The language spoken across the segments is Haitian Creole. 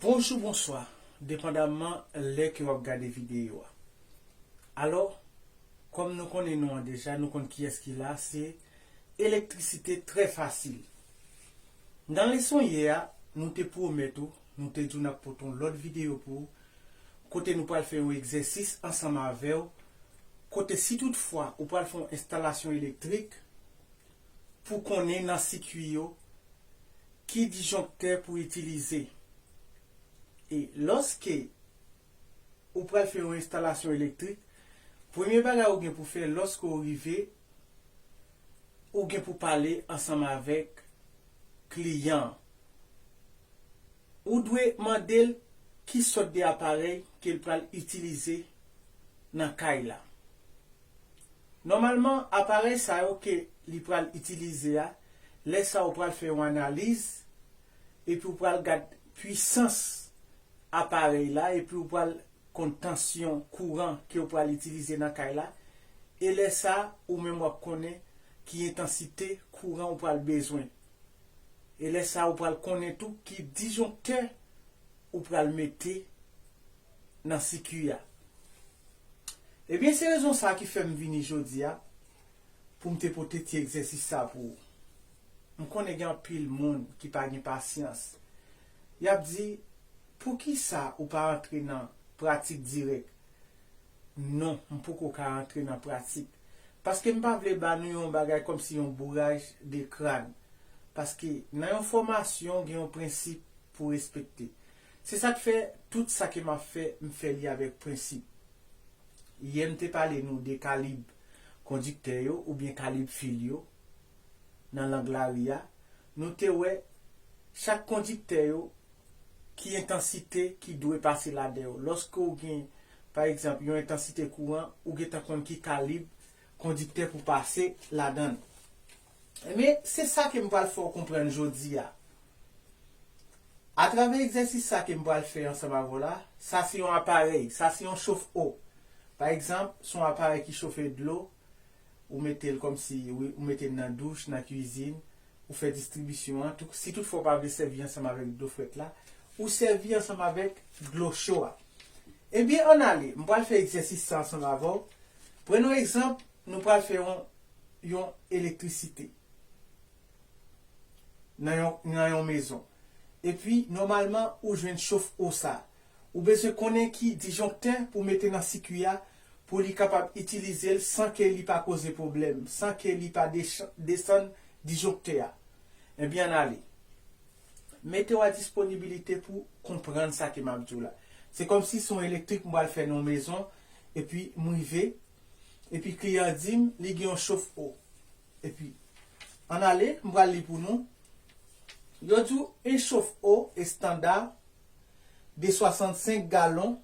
Bonjou bonswa depandaman lè ke wap gade videyo a alò kòm nou konnen nou an deja nou konn kiyès ki la se elektrisite trè fasil nan leson yè a nou te pwomèt ou nou te di w nap pote yon lòt videyo pou ou kote nou pral fè yon egzèsis ansanm avèw kote si tout fwa ou pral fè yon enstalasyon elektrik pou konnen nan sikui yo ki disjonktè pou itilize. E lòske ou pral fè yon enstalasyon elektrik, premye bagay ou gen pou fè lòske ou rive, ou gen pou pale ansanm avèk kliyan an. Ou dwe mande l ki sòt de aparèy ke l pral itilize nan kay la. Nòmalman, aparèy sa yo ke li pral itilize a, lè sa ou pral fè yon analiz, epi ou pral gad pwisans aparèy la, epi ou pral konn tansyon kouran ke ou pral itilize nan kay la, e lè sa ou menm wap konnen ki entansite kouran ou pral bezwen. E lè sa ou pral konnen tou ki disjonktè ou pral mete nan sikui a. Ebyen se rezon sa ki fè m vini jodi a pou m te pote ti egzèsis sa pou ou. M konnen gen anpil moun ki pa gen pasyans. Y ap di, Poukisa ou pa antre nan pratik dirèk? Non, m poko ka antre nan pratik. Paske m pa vle ba nou yon bagay kòmsi yon bouraj de kran. Paske nan yon fòmasyon gen yon prensip pou respekte. Se sa k fè, tout sa ke m ap fè, m fè li avèk prensip. Yè m te pale nou de kalib kondiktè yo oubyen kalib fil yo nan lang lari a, nou te wè chak kondiktè yo ki entansite ki dwe pase ladan yo. Lòske w gen, pa egzanp, yon entansite kouran, ou gentan konn ki kalib kondiktè pou pase ladan l. Enben, se sa ke m pral fè w konprann jodi a. Atravè egzèsis sa ke m pral fè ansanm avè w la, sa se yon aparèy, sa se yon chof o. Pa egzanp, se yon aparèy ki chofe dlo, ou mete l kòm si, wi, ou mete l nan douch, nan kuizin, ou fè distribisyon an, tou, si tout fwa w pa vle sèvi ansanm avèk dlo frèt la, ou sèvi ansanm avèk dlo cho a. Enben, ann ale, m pral fè egzèsis sa ansanm avè w. Pran yon egzanp. Nou pral fè yon yon elektrisite nan yon nan yon mezon. Epi nòmalman ou jwenn chof o sa. Ou bezwen konnen ki disjonktè pou mete nan sikui a pou li kapab itilize l san ke li pa koze pwoblèm, san ke li pa dechan desann disjonktè a. Ebyen ann ale. Mete w a disponibilite pou konprann sa ke m ap di w la. Se kòmsi s on elektrik m pral fè nan yon mezon epi m rive epi kliyan an di m li gen yon chof o epi ann ale m pral li pou nou yo di w 1 chof o estanda de 65 galon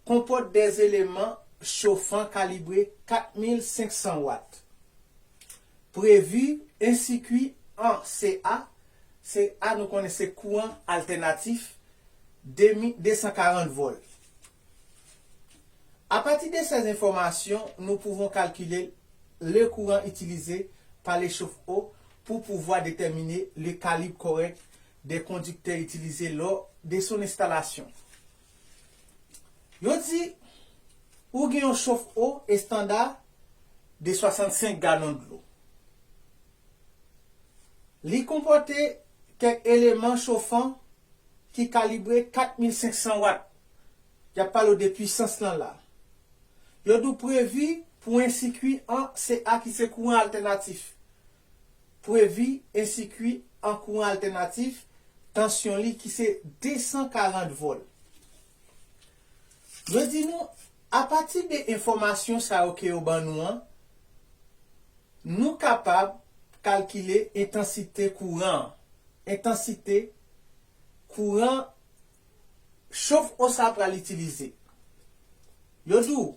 konpòt 2 eleman chofan kalibre 4500 wat previ 1 sikui an CA CA nou konnen se kouran altènatif 240 vòl. A pati de sèz enfòmasyon, nou pouvon kalkile le kouran itilize pa le chofo pou pouvwa detèmine le kalib kòrèk de kondiktè itilize lò de son enstalasyon. Yo di ou gen yon chofo estanda de 65 galon dlo. Li konpòte kèk eleman chofan ki kalibre 4500 wat. Yap pale w de pwisans lan la. Yo di w previ pou 1 sikui an se a ki se kouran altènatif. Previ 1 sikui an kouran altènatif tansyon li ki se 240 vòl. Yo di nou apati de enfòmasyon sa yo ke yo ban nou an, nou kapab kalkile entansite kouran an. Entansite kouran Chof o sa pral itilize. Yo di w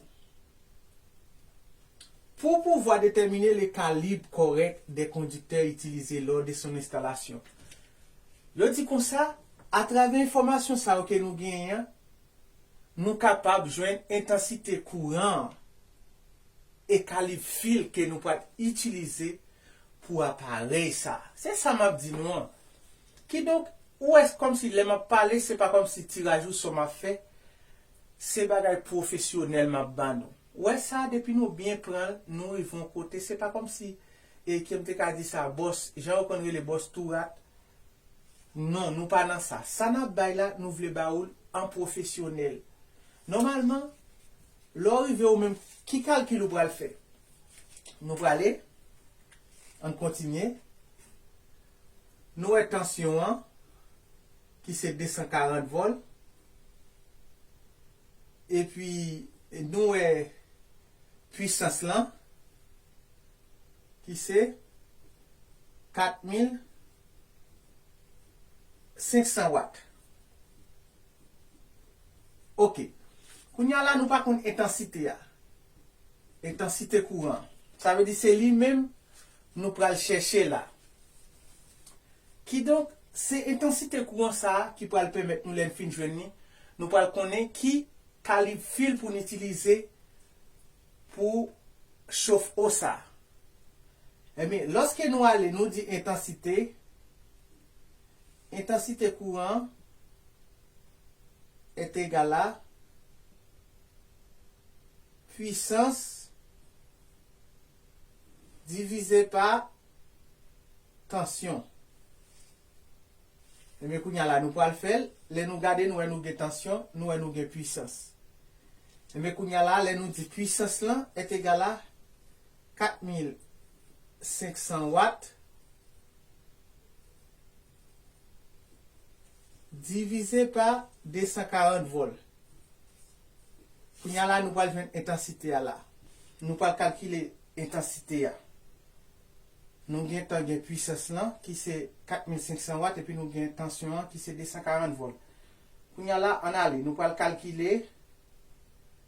Pou w pouvwa detèmine le kalib kòrèk de kondiktè itilize lò de son enstalasyon. Yo di konsa, atravè enfòmasyon sa yo ke nou genyen an, nou kapab jwenn entansite kouran an e kalib fil ke nou pral itilize pou aparèy sa. Se sa m ap di nou an. Kidonk, ou wè se kòmsi lè m ap pale se pa kòmsi tiraj ou sò m ap fè, se bagay pwofesyonèl m ap ban nou. Ou wè sa, depi nou byen pran l, nou rive yon kote, se pa kòmsi, e ke m te ka di sa, bòs, jan yo konn rele bòs tou rat, non, nou pa nan sa. Sa n ap bay la, nou vle ba ou l an pwofesyonèl. Nòmalman, lè ou rive ou menm, ki kalkil ou pral fè? Nou prale, an n kontinye, Nou wè tansyon an ki se 240 vòl. Epi nou wè pwisans lan ki se 4500 wat. Ok. Kounye a la nou pa konn entansite a. Entansite kouran an. Sa vle di se li menm nou pral chèche la. Kidonk, se entansite kouran sa a ki pral pèmèt nou lè n fin jwenn li, nou pral konnen ki kalib fil pou n itilize pou chof o sa. Ebyen, lòske nou ale nou di entansite, entansite kouran est egal a pwisans Divize pa Tansyon. Ebyen kounye a la nou pral fè l. Lè nou gade nou wè nou gen tansyon, nou wè nou gen pwisans. Ebyen kounye a la lè nou di pwisans lan est egal a 4500 wat, Divize pa 240 vòl. Kounye a la, nou pral jwenn entansite a la. Nou pral kalkile entansite a. Nou gen tan gen pwisans lan ki se 4500 wat epi nou gen tansyon an ki se 240 vòl. Kounye a la, ann ale. Nou pral kalkile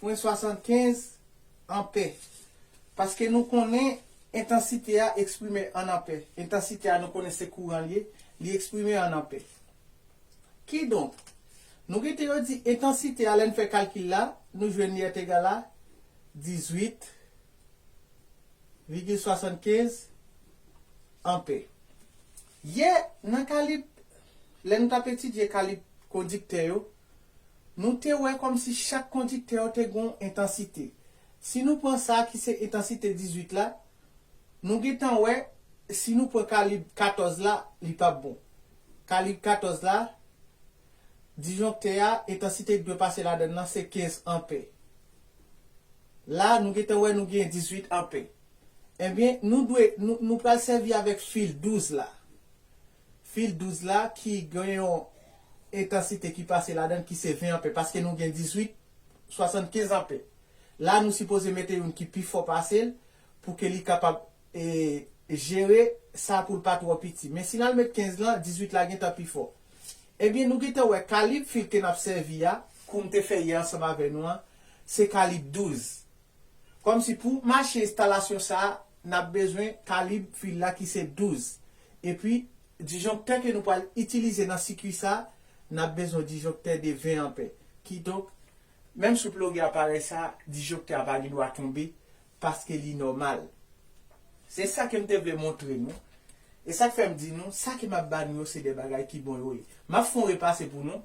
Pwen 75, Anpè. Paske nou konnen entansite a eksprime an anpè. Entansite a nou konnen se kouran l ye, li eksprime an anpè. Kidonk, nou rete yo di entansite a lè n fè kalkil la, nou jwenn li est égal à 18 vigil 75 anpè. Yè nan kalib, lè nou t ap etidye kalib kondiktè yo, Nou te wè kòmsi chak kondiktè yo te gen yon entansite. Si nou pran sa ki se entansite 18 la, nou gen tan wè si nou pran kalib 14 la, li p ap bon. Kalib 14 la, disjonktè a, entansite ki dwe pase ladann lan se 15 anpè. La, nou gen tan wè nou gen 18 anpè. Enben, nou dwe, nou pral sèvi avèk fil 12 la. Fil 12 la ki gen yon entansite ki pase ladan ki se 20 anpè paske nou gen 18 75 anpè. La nou sipoze mete youn ki pi fò pase l pou ke li kapab jere sa pou l pa twò piti. Men si n al met 15 lan, 18 la gentan pi fò. Ebyen nou gentan wè kalib fil ke n ap sèvi a, kou m te fè yè ansanm avè nou an, se kalib 12. Kòmsi pou mache enstalasyon sa a, n ap bezwen kalib fil la ki se 12. Epi, disjonktè ke nou pral itilize nan sikui sa a, n ap bezwen yon disjonktè de 20 anpè. Kidonk, menm si w ploge aparèy sa a, disjonktè a pa gen dwa tonbe paske li nòmal. Se sa ke m te vle montre nou. E sa k fè m di nou, sa ke m ap ba nou yo se de bagay ki bon yo ye. M ap fè yon repase pou nou.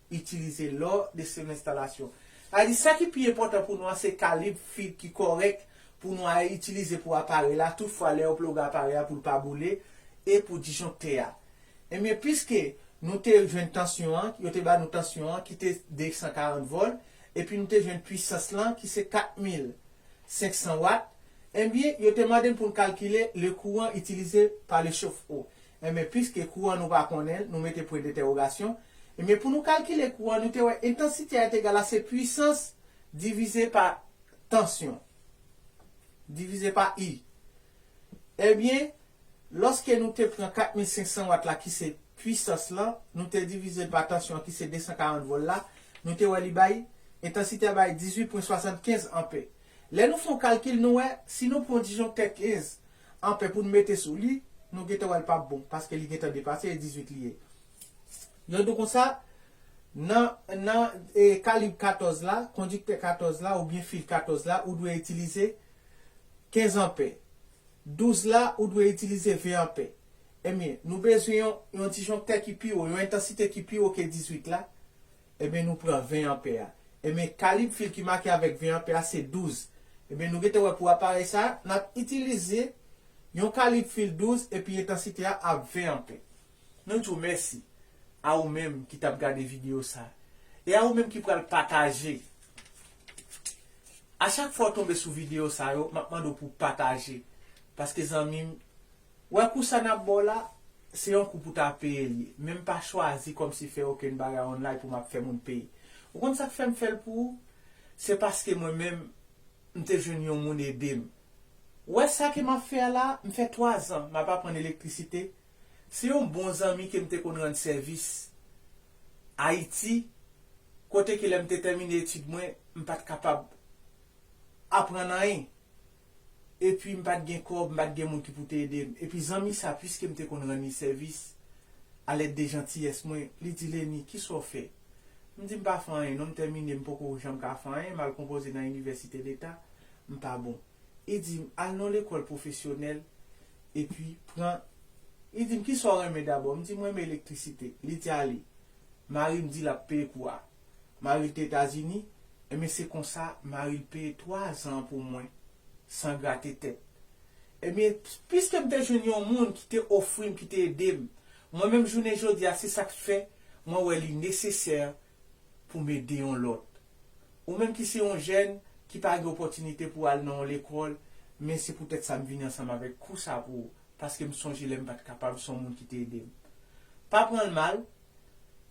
itilize lò de sou enstalasyon. Sa vle di sa ki pi enpòtan pou nou an se kalib fib ki kòrèk pou nou a itilize pou aparèy la tout fwa lè yo ploge aparèy a pou l pa boule e pou disjonktè a. Ebyen piske nou te jwenn tansyon an, yo te ba nou tansyon an ki te 240 vòl epi nou te jwenn pwisans lan ki se 4500 wat, ebyen yo te mande n pou n kalkile le kouran itilize pa le chofo. Enben piske kou an nou pa konnen l, nou mete pwen dentèwogasyon, enben pou nou kalkile kou an, nou te wè entansite a te egal a se pwisans divize pa tansyon, divize pa I. Enben, lòske nou te pran 4500 wat la ki se pwisans lan, nou te divize l pa tansyon an ki se 240 vòl la, nou te wè li bay, entansite a bay 18 pwen 75 anpè. Lè nou fè yon kalkil nou wè, si nou pran yon disjonktè 15, Anpè poun mete sou li nou gentan wèl pap bon paske li gentan depase e 18 li ye yon do konsa nan nan e kalib 14 la kondiktè 14 la oubyen fil 14 la ou dwe itilize 15 anpè 12 la ou dwe itilize 20 anpè ebyen nou bezwen yon yon disjonktè ki pi wo yon entansite ki pi wo ke 18 la Ebyen nou pran 20 anpè a. Ebyen kalib fil ki make avèk 20 anpè a se 12. Ebyen nou gentan wè pou aparèy sa a, n ap itilize yon kalib fil 12 epi entansite a ap 20 anpè. Nou di w mèsi a ou menm ki t ap gade videyo sa a e a ou menm ki pral pataje. A chak fwa w tonbe sou videyo sa yo, m ap mande w pou w pataje paske zanmi m Wè kou sa nap baw la se yon kou pou ta peye li ye men m pa chwazi kòmsi fè okenn bagay online pou map fè moun peye ou konn sak fèm fèl pou ou se paske mwen menm m te jwenn yon moun edem wè sa ke map fè a la m fè 3 zan map aprann elektrisite se yon bon zanmi kem te konn rann sèvis ayiti kote ke lèm te tèmine etid mwen m pat kapab aprann anyen Epi m pat gen kòb, m pat gen moun ki pou te ede m. Epi zanmi sa, piske m te konn rann li sèvis, alèd de jantiyès mwen, li di, Lenny, kisa w fè? M di, M pa fè anyen non, m tèmine, m poko janm ka fè anyen, m al konpoze nan inivèsite leta, m pa bon. Li di m, Al nan yon lekòl pwofesyonèl, epi pran. Li di m, Kisa w renmen dabò? M di, M renmen elektrisite. Li di, Ale. Mari m di l ap peye kou a. Maril te etazini ebyen se konsa maril peye 3 zan pou mwen san grate tèt ebyen piskem te jwenn yon moun ki te ofrim ki te edem mwen menm jounen jodia se sak t fè mwen wè li nesesè poum ede yon lòt ou menm ki se yon jèn ki pa gen opòtinite pou al nan yon lekòl men se poutèt sa m vini ansanm avèk kou sa pou ou paskem sonje lèm pat kapab son moun ki te edem pa pranl mal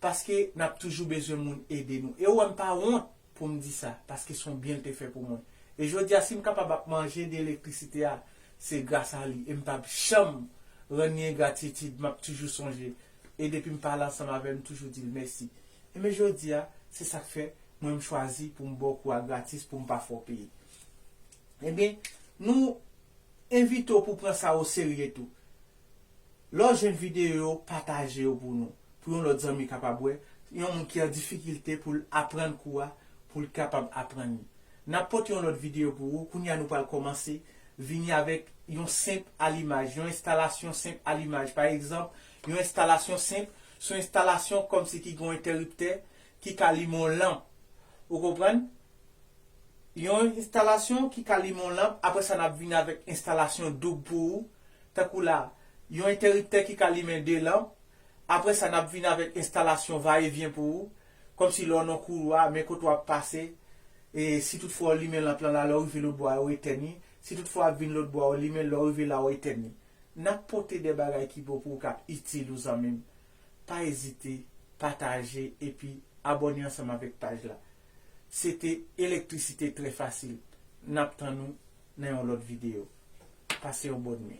paske nap toujou bezwen moun ede nou e ou wèm pa wont poum di sa paske son byen l te fè pou mwen e jodia sim kapab ap manje de elektrisite a se gras a li em pap janm rann li engratitid map toujou sonje e depim pale ansanm avèl m toujou dil mèsi enben jodia se sak fè mwen m chwazi poum baw kou a gratis poum pa fè w peye enben nou envite w pou pran sa o serye tou Lè w jwenn videyo yo, pataje yo pou nou, pou yon lòt zanmi kapab wè, yon moun ki an difikilte pou l aprann kou a, pou l kapab aprann li. N ap pote yon lòt videyo pou ou, kounye a nou pral kòmanse vini avèk yon senp alimaj, yon enstalasyon senp alimaj. Pa egzanp, yon enstalasyon senp, se yon enstalasyon kòmsi ki gen yon entèriptè ki ka limen yon lanp. Ou konprann? Yon enstalasyon ki ka limen yon lanp, apre sa n ap vini avèk enstalasyon doub pou ou, tankou la, yon entèriptè ki ka limen 2 lanp, apre sa nap vin avèk enstalasyon va e vyen pou ou, kòmsi lè w nan koulwa, men kote wap pase, e si tout fwa w limen lanp lan la, lè w rive lòt bò a ou etèn li, si tout fwa wap vin lòt bò a ou limen l, lè w rive la ou etèn li. Nap pote de bagay ki bon pou ou kap itil ou zanmi m. Pa ezite pataje epi abòne ansanm avèk paj la. Se te Elektrisite trè fasil. Nap tann ou. nan yon lòt video. Pase yon bòn nwi.